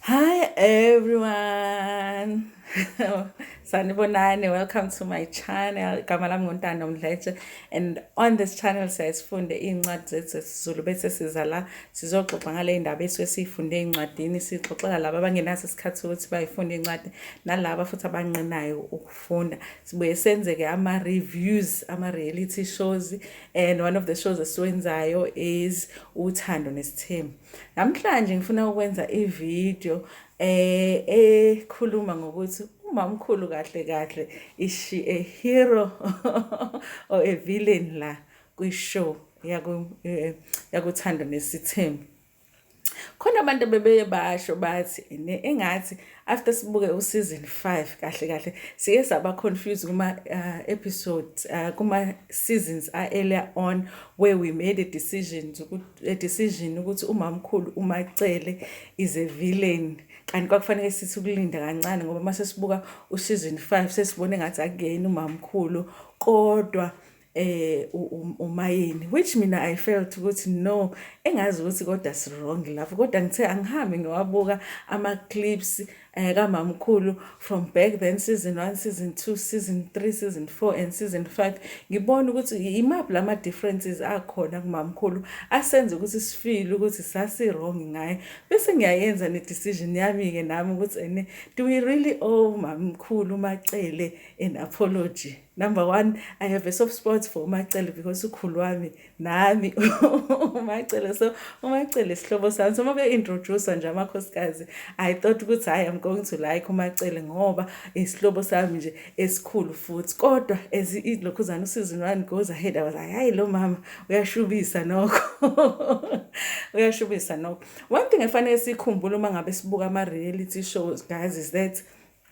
Hi everyone. Sanibonani, welcome to my channel. Igama lami nguNtando Mdletshe and on this channel siyasifunde iy'ncwadi zethu zesiZulu bese siza la sizoxoxa ngale ndaba esuke siyifunde ey'ncwadini sixoxela laba abangenaso isikhathi sokuthi bayifunde iy'ncwadi nalaba futhi abanqinayo ukufunda. Sibuye senze-ke ama-reviews, ama-reality shows and one of the shows esiwenzayo is Uthando Nesithembu. Namhlanje ngifuna ukwenza ivideo eh ekhuluma ngokuthi umamkhulu kahle kahle is she a hero or a villain la kwishow yaku eh, yakuthanda nesithembu khona abantu bebeye basho bathi engathi after sibuke useason 5 kahle kahle siye saba confused kuma uh, episodes uh, kuma seasons a earlier on where we made a decision a decision ukuthi umamkhulu umacele is a villain kanti kwakufanele sithi ukulinda kancane ngoba mase sibuka useason 5 sesibone ngathi akuyena umamkhulu kodwa eh umayeni which mina i felt ukuthi no engazi ukuthi kodwa si wrong lapho kodwa ngithe angihambi ngiwabuka ama clips eh kamamkhulu from back then season 1 season 2 season 3 season 4 and season 5 ngibona ukuthi imaphi lama differences akhona kumamkhulu asenze ukuthi sifile ukuthi sasi wrong ngaye bese ngiyayenza ne decision yami ke nami ukuthi ene do we really owe mamkhulu macele an apology Number one, I have a soft spot for uMacele because ukhulu wami nami uMacele. So uMacele sihlobo sami. So mabe introduce nje amakhosikazi. I thought ukuthi hayi I'm going to like uMacele ngoba isihlobo sami nje esikhulu futhi. Kodwa as ilokhuzana usizini wani goes ahead I was like hayi lo mama uyashubisa nokho. uyashubisa nokho. One thing efanele sikhumbule uma ngabe sibuka ama reality shows guys is that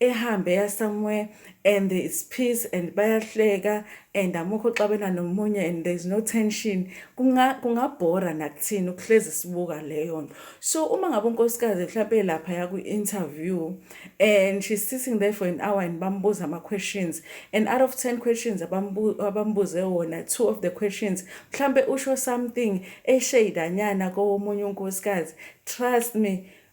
ehambe eya somewhere and there is peace and bayahleka and amukho uxabena nomunye and there is no tension kungabhora kunga nakuthini ukuhlezi sibuka leyo nto so uma ngabe unkosikazi mhlawumpe lapha yakwi-interview and she's sitting there for an hour and bambuza ama-questions and out of ten questions abambuze wona two of the questions mhlawumpe usho something esheyidanyana kowomunye unkosikazi trust me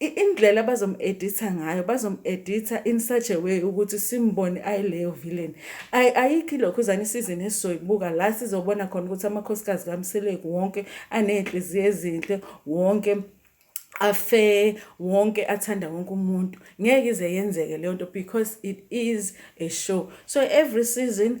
indlela abazomu-editha ngayo bazomu-editha in such a way ukuthi simbone ayileyo villain ay ayikho ilokhuzane isizini esizoyibuka la sizobona khona ukuthi amakhosikazi kamseleku wonke aney'nhliziyo ezinhle wonke afe wonke athanda wonke umuntu ngeke ize yenzeke leyo nto because it is a show so every season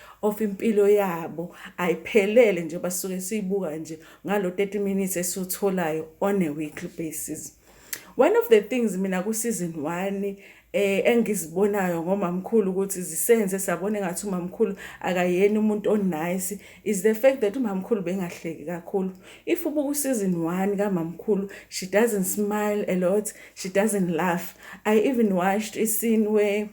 of impilo yabo ayiphelele nje basuke siyibuka nje ngalo 30 minutes esiwutholayo on a weekly basis one of the things mina ku season 1 eh engizibonayo ngomamkhulu ukuthi zisenze sabona ngathi umamkhulu akayena umuntu onice is the fact that umamkhulu bengahleki kakhulu if ubuku season 1 kamamkhulu she doesn't smile a lot she doesn't laugh i even watched a scene where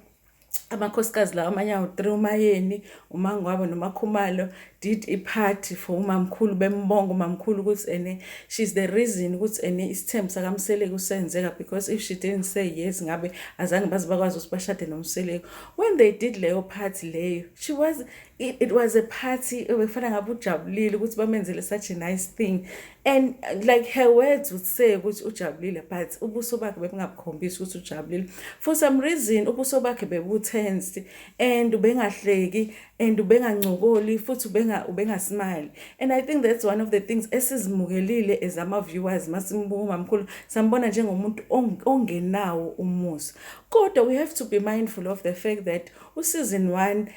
amakhosikazi lawa amanye awu-three umayeni umangwabo nomakhumalo did i-party for umamkhulu bembonga umamkhulu ukuthi ene she's the reason ukuthi ene isithembu sakamseleku senzeka because if she didn't say yes ngabe azange baze bakwazi ukuthi bashade nomseleku when they did leyo party leyo she was it was a party ebekufana ngabe ujabulile ukuthi bamenzele such a nice thing and like her words would say ukuthi ujabulile but ubuso bakhe bebungakhombisi ukuthi ujabulile for some reason ubuso bakhe bebutense and ubengahleki and ubengancokoli futhi ubenga ubengasmile and i think that's one of the things esizimukelile as ama viewers masimbuka mamkhulu sambona njengomuntu ongenawo umusa kodwa we have to be mindful of the fact that usizini 1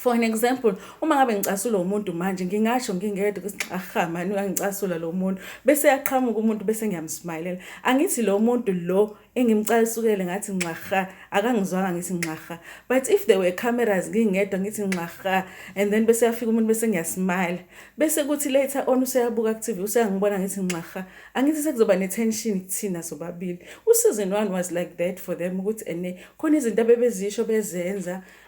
for an example uma ngabe ngicasula umuntu manje ngingasho ngingedwa ukuthi aha mani uyangicasula lo muntu bese yaqhamuka umuntu bese ngiyamsmayilela angithi lo muntu lo engimcasukele ngathi nxaha akangizwanga ngithi nxaha but if there were cameras ngingedwa ngithi nxaha and then bese yafika umuntu bese ngiyasmile bese kuthi later on useyabuka ku TV useyangibona ngithi nxaha angithi sekuzoba ne tension kuthina sobabili usizini one was like that for them ukuthi ene khona izinto abebezisho bezenza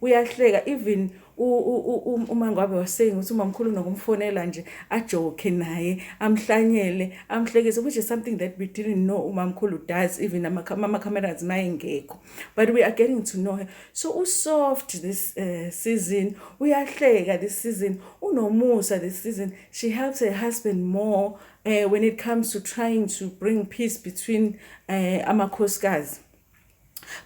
uyahleka even umangwabe was saying ukuthi umamkhulu unokumfonela nje ajoke naye amhlanyele amhlekise which is something that we didn't know umamkhulu does even ama-cameras mayengekho but we are getting to know her so usoft this uh, season uyahleka this season unomusa this season she helps her husband more uh, when it comes to trying to bring peace between uh, amakhosikazi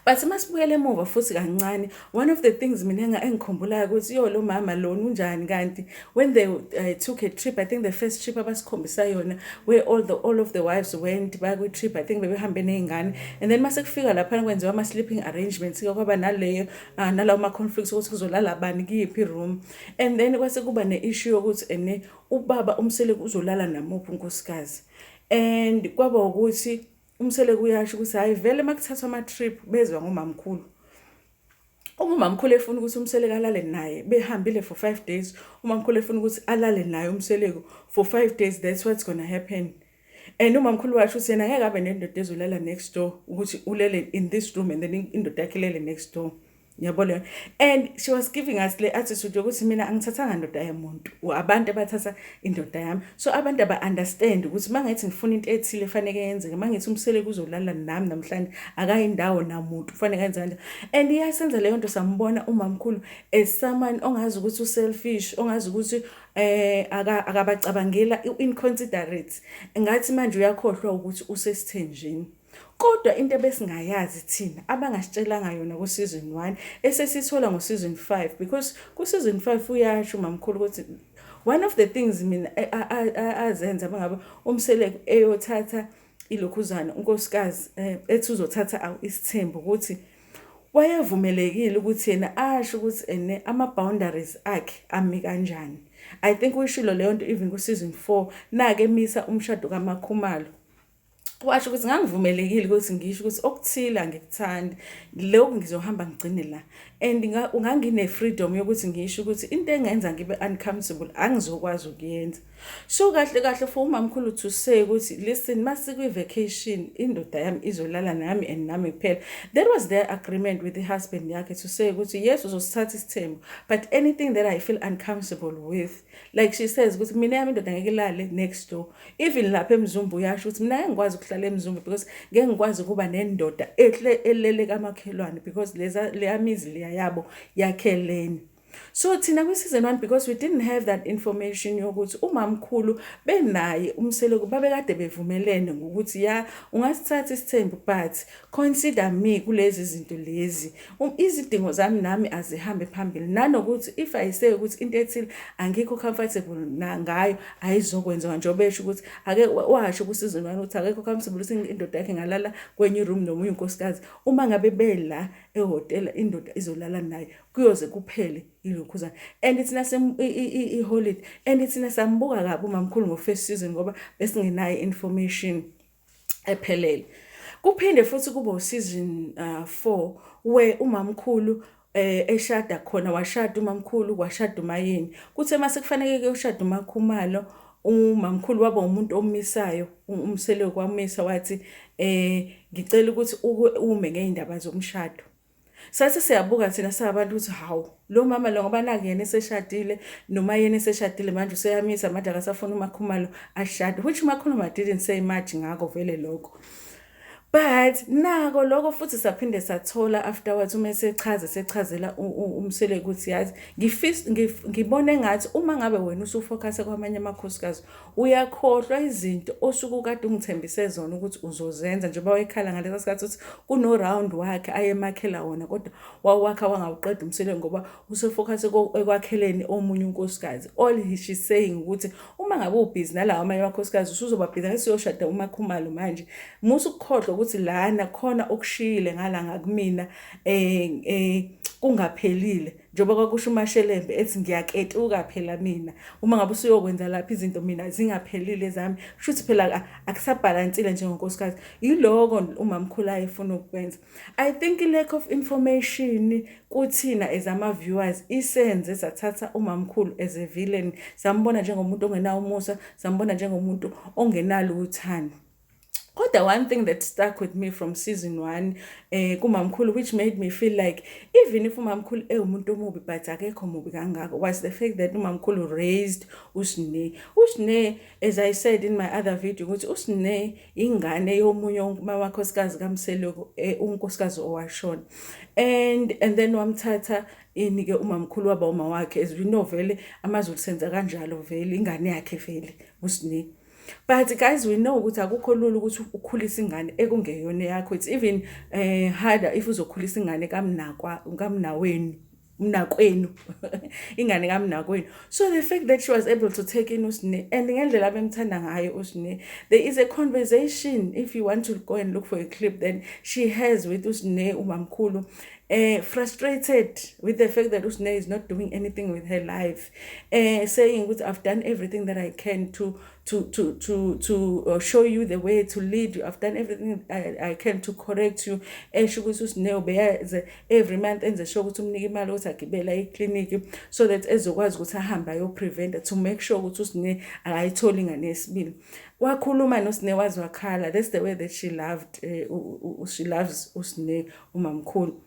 but uma sibuyela emuva futhi kancane one of the things mina engikhumbulayo ukuthi yo lo mama lona unjani kanti when they uh, took a trip i think the first trip abasikhombisa yona where all, the, all of the wives went bakwi-trip i think bebehambe ney'ngane and then mase kufika laphana kwenziwa ama-sleeping arrangements ke kwaba naleyo uh, nalawo ma-conflicts ukuthi kuzolala bani kiyiphi room and then kwase kuba ne-issue yokuthi ene ubaba umseleki uzolala namuphi unkosikazi and kwaba ukuthi umsele kuyasho ukuthi hayi vele uma kuthathwa ama-trip bezwa ngomamkhulu uma umamkhulu efuna ukuthi umseleko alale naye behambile for five days umamkhulu efuna ukuthi alale naye umseleko for five days that's what's gonna happen and umamkhulu washo ukuthi yena ngeke abe nendoda ezolala next door ukuthi ulele in this room and then indoda yakhe ilele next door yabo leyo and she was giving us le attitude yokuthi mina angithathanga ndoda yomuntu abantu abathatha indoda yami so abantu aba-understand ukuthi uma ngithi ngifuna into ethile efaneke yenzeke uma ngithi umsele kuzolala nami namhlanje akayindawo namuntu kufaneke enze kanjani and iyasenza leyo nto sambona umamkhulu as someone ongazi ukuthi u-selfish ongazi ukuthi eh akabacabangela in considerate ngathi manje uyakhohlwa ukuthi usesithenjini Kodwa into ebesingayazi thina abangasitshelanga yona ku season 1 esesithola ngo season 5 because ku season 5 uyasho mamkhulu ukuthi one of the things mina azenza bangaba umseleku eyothatha ilokhuzana unkosikazi eh, ethi uzothatha isithembu ukuthi wayevumelekile ukuthi yena asho ukuthi ene ama boundaries akhe ami kanjani i think uyishilo leyo nto even ku season 4 nake misa umshado kamakhumalo washo ukuthi ngangivumelekile ukuthi ngisho ukuthi okuthile angikuthandi lokhu ngizohamba ngigcine la and ngangine-freedom yokuthi ngisho ukuthi into engenza ngibe uncomfortable angizokwazi ukuyenza so kahle kahle for umamkhulu to say ukuthi listen uma sikwi-vacation indoda yami izolala nami and nami kuphela that was their agreement with the husband yakhe to say ukuthi yes uzosithatha isithembu but anything that i feel uncomfortable with like she says ukuthi mina yami indoda ngeke ilale next door even lapha emzumba uyasho ukuthi mina ngeke ngikwazi ukuhlala emzumba because ngeke ngikwazi ukuba nendoda ehle elele kamakhelwane because leza leyamizi leya yabo yakheleni so thina kwi-season one because we didn't have that information yokuthi umamkhulu benaye umseloku babekade bevumelene ngokuthi ya ungasithatha isithembu but consider me kulezi zinto lezi Um, izidingo zami nami azihambe phambili nanokuthi if i say ukuthi into ethile angikho comfortable ngayo ayizokwenziwa njengoba esho ukuthi ake washo kusizini wami ukuthi akekho comfortable ukuthi indoda yakhe ngalala kwenye room nomunye unkosikazi uma ngabe bela ehotela indoda izolala naye kuyoze kuphele ilokhuzana and thina i-holiday and thina sambuka kabi umamkhulu ngo-first season ngoba besingenayo information ephelele kuphinde futhi kube useason 4 uh, where umamkhulu eh eshada khona washada umamkhulu kwashada umayeni kuthe uma sekufanele kuyoshada umakhumalo umamkhulu waba umuntu omisayo umsele kwamisa wathi eh ngicela ukuthi ume ngeindaba zomshado Sathi siyabuka thina singabantu ukuthi hawu lo mama lo ngoba nake yena eseshadile noma yena eseshadile manje useyamisa manje akasafuna umakhumalo ashade which umakhuluma didn't say much ngako vele lokho but nako lokho futhi saphinde sathola afterwards uma esechaza sechazela umsele ukuthi yazi ngibona engathi uma ngabe wena usufocuse kwamanye amakhosikazi uyakhohlwa izinto osuke ukade ungithembise zona ukuthi uzozenza njengoba wayekhala ngalesa sikhathi ukuthi kuno-round wakhe ayemakhela wona kodwa wawakha wangawuqeda umsele ngoba usefocuse ekwakheleni omunye unkosikazi all she saying ukuthi uma ngabe ubhizi nalawo amanye amakhosikazi usuzobabhiza ngesiyoshada umakhumalo manje musa ukukhohlwa ukuthi lana khona okushiyile ngala ngakumina um um kungaphelile njengoba kwakusho umashelembe ethi ngiyaketuka phela mina uma ngabe usuyokwenza lapha izinto mina zingaphelile zami kusho ukuthi phela akusabhalansile njengonkosikazi yiloko umamkhulu ayefuna ukukwenza i think lack of information kuthina as ama viewers isenze sathatha umamkhulu as a villain sambona njengomuntu ongenawo umusa sambona njengomuntu ongenalo uthando kodwa one thing that stuck with me from season one eh kumamkhulu which made me feel like even if umamkhulu ewumuntu omubi but akekho mubi kangako was the fact that umamkhulu raised usine usine as i said in my other video ukuthi usine ingane yomunye uma wakhosikazi kamseloko eh, unkosikazi owashona and and then wamthatha ini ke umamkhulu waba uma wakhe as we know vele amazulu senza kanjalo vele ingane yakhe vele usine but guys we know ukuthi akukho lula ukuthi ukhulise ingane ekungeyona yakho it's even uh, harder if uzokhulisa ingane kamnakwa kamnaweni mnakwenu ingane kamnakwenu so the fact that she was able to take in usine and ngendlela abemthanda ngayo usine there is a conversation if you want to go and look for a clip then she has with usine umamkhulu uh, frustrated with the fact that Usne is not doing anything with her life, uh, saying, "Which I've done everything that I can to to to to to uh, show you the way to lead you. I've done everything I, I can to correct you." Esho ukuthi Usne ubeyaze every month enze sure ukuthi umnike imali ukuthi agibela eclinic so that ezokwazi ukuthi ahambe ayo prevent to make sure ukuthi Usne akayitholi ngane yesibili. Wakhuluma noSne waze wakhala. That's the way that she loved uh, she loves Usne umamkhulu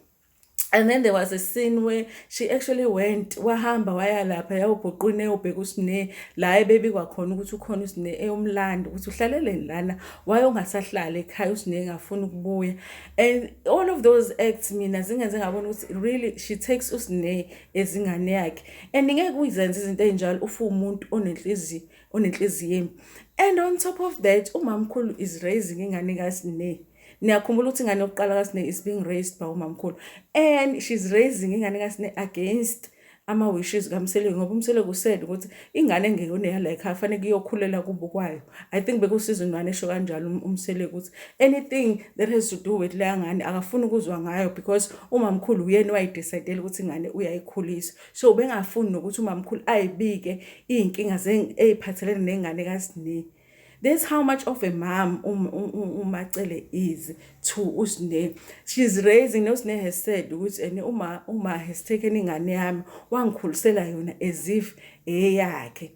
and then there was a scene where she actually went wahamba waya lapha yawubhuqwini eyobheka usine la ebebikwa khona ukuthi ukhona usine eyomlanda ukuthi uhlaleleni lana wayongasahlala ekhaya usine engafuni ukubuya and all of those acts mina zingenze ngabona ukuthi really she takes usine ezingane yakhe and ngeke uyizenze izinto ezinjalo ufu umuntu onenhliziyo onenhliziyo embi and on top of that umamkhulu is raising ingane kasine niyakhumbula ukuthi ingane yokuqala kasine is being raised by umamkhulu and she's raising ingane kasine against ama-wishes kamseleki ngoba umseleki usele ukuthi ingane engeyona eyalayikhaya fanele kuyokhulela kubo kwayo i think bekusiza ingane esho kanjalo um-, umseleki ukuthi anything that has to do with leya ngane akafuni ukuzwa ngayo because umamkhulu uyena wayidecidela ukuthi ingane uyayikhulisa so ubengafuni nokuthi umamkhulu ayibike iy'nkinga ey'phathelene nengane kasiningi That's how much of a mom um, um, um, uMacele is to uSne. She's raising uSne has said ukuthi and uma uma has taken ingane yami wangikhulisela yona as if eyakhe.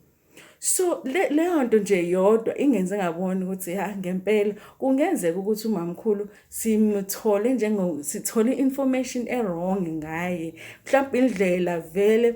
So leyo nto nje yodwa ingenze ngabona ukuthi ha ngempela kungenzeka ukuthi umamkhulu simthole njengo sithole information e wrong ngaye. Mhlawumbe indlela vele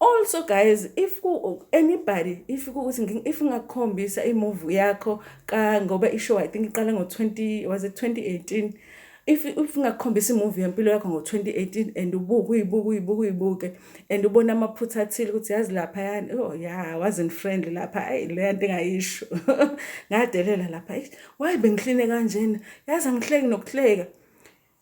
also guys if ku anybody if ukuthi if ngakukhombisa imove yakho ka ngoba ishow i think iqala ngo-20 was it 2018 if if ngakukhombisa imovie yempilo yakho ngo-2018 and ubuke uyibuke uyibuke uyibuke and ubona amaphutha athile ukuthi yazi lapha yani oh ya wasn't friendly lapha ayi leya nto engayisho ngadelela lapha wayi bengihline kanjena yazi angihleki nokuhleka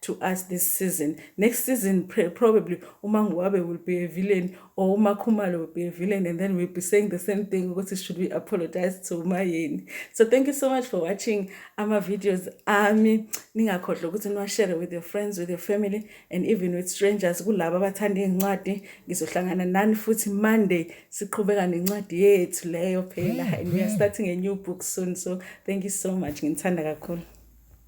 to us this season next season probably umanguwabe will be a villain or umakhumalo will be a villain and then we'll be saying the same thing ukuthi should we apologize to umayeni so thank you so much for watching ama-videos ami ningakhohlwa ukuthi niwashere with your friends with your family and even with strangers kulabo abathanda iy'ncwadi ngizohlangana nani futhi monday siqhubeka nencwadi yethu leyo phela and we are starting a new book soon so thank you so much nginithanda kakhulu